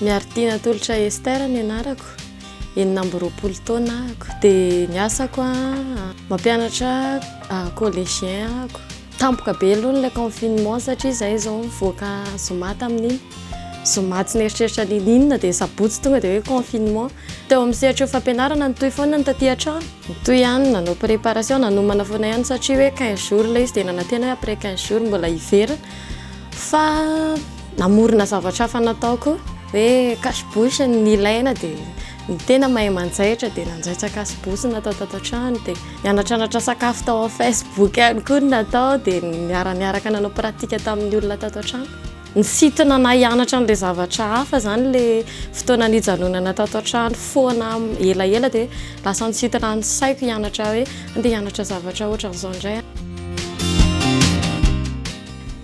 Miarittina Tolotra Esther ny anarako enina amby roapolo taona ako dia ny asako a mampianatra collégien ako tampoka be aloha ilay confinement satria izay izao mivoaka zoma tamin'iny zoma tsy nieritreritra n'inon'inona dia sabotsy tonga dia hoe confinement Teo amin'ny sehatry ny fampianarana nitohy foana ny taty an-trano. Nitohy ihany nanao préparation nanomana foana ihany satria hoe quinze jours ilay izy dia nanantena hoe après quinze jours mbola hiverina fa namorona zavatra hafa nataoko hoe cache bouche ny nilaina dia ny tena mahay manjaitra dia nanjaitra cache bouche natao tato an-trano dia nianatranatra sakafo tao amin'ny facebook ihany koa ny natao dia niara-niaraka nanao pratique tamin'ny olona tato an-trano. Nisintona anah hianatra an'ilay zavatra hafa zany ilay fotoana nijanonana tato an-trano foana elaela dia lasa nisintona ny saiko hianatra hoe andeha hianatra zavatra ohatran'izao indray aho.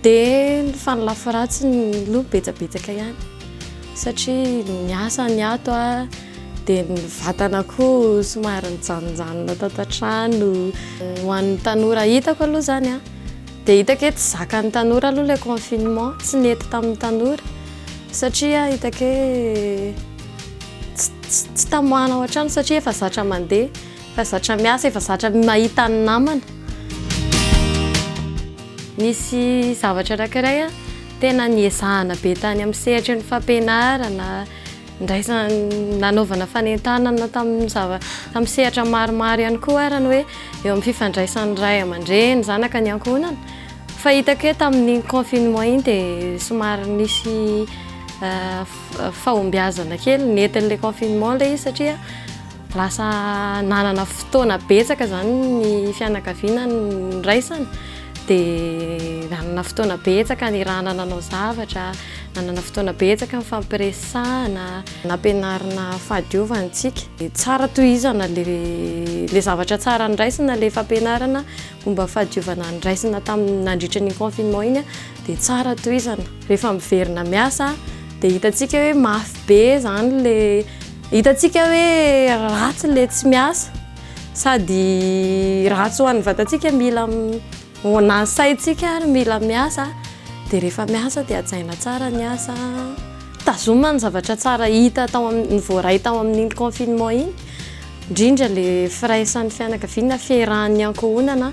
Dia ny fanalafy ratsiny aloha betsabetsaka ihany satria ny asa niato aho dia ny vatana koa somary nijanonjanona tato an-trano. Ho an'ny tanora hitako aloha zany an! Dia hitako hoe tsy zakan'ny tanora aloha ilay confinement, tsy nety tamin'ny tanora satria hitako hoe tsy tamoahana ao an-trano satria efa zatra mandeha, efa zatra miasa, efa zatra mahita ny namana. Nisy zavatra anankiray tena niezahana be tany amin'ny sehatry ny fampianarana. Ndraisana nanaovana fanentanana tamin'ny zava, tamin'ny sehatra maromaro ihany koa ary ny hoe eo amin'ny fifandraisan'ny ray aman-dreny, zanaka ny ankohonana. Fa hitako hoe tamin'iny confinement iny dia somary nisy fahombiazana kely, nentin'ilay confinement ilay izy satria. Lasa nanana fotoana betsaka izany ny fianakaviana niraisana, dia nanana fotoana betsaka nirahana nanao zavatra, nanana fotoana betsaka nifampiresahana, nampianarina fahadiovana antsika. Tsara tohizana ilay zavatra tsara noraisina, ilay fampianarana momba ny fahadiovana noraisina tamin'ny nandritra an'iny confinement iny dia tsara tohizana. Rehefa miverina miasa dia hitantsika hoe mafy be izany ilay. Hitantsika hoe ratsy ilay tsy miasa, sady ratsy ho an'ny vatantsika, mila ho an'ny saintsika ary mila miasa, dia rehefa miasa dia hajaina tsara ny asa, tazomina ny zavatra tsara hita tao amin'ny, voaray tao amin'iny confinement iny, indrindra ilay firaisan'ny fianakaviana, fiarahan'ny ankohonana.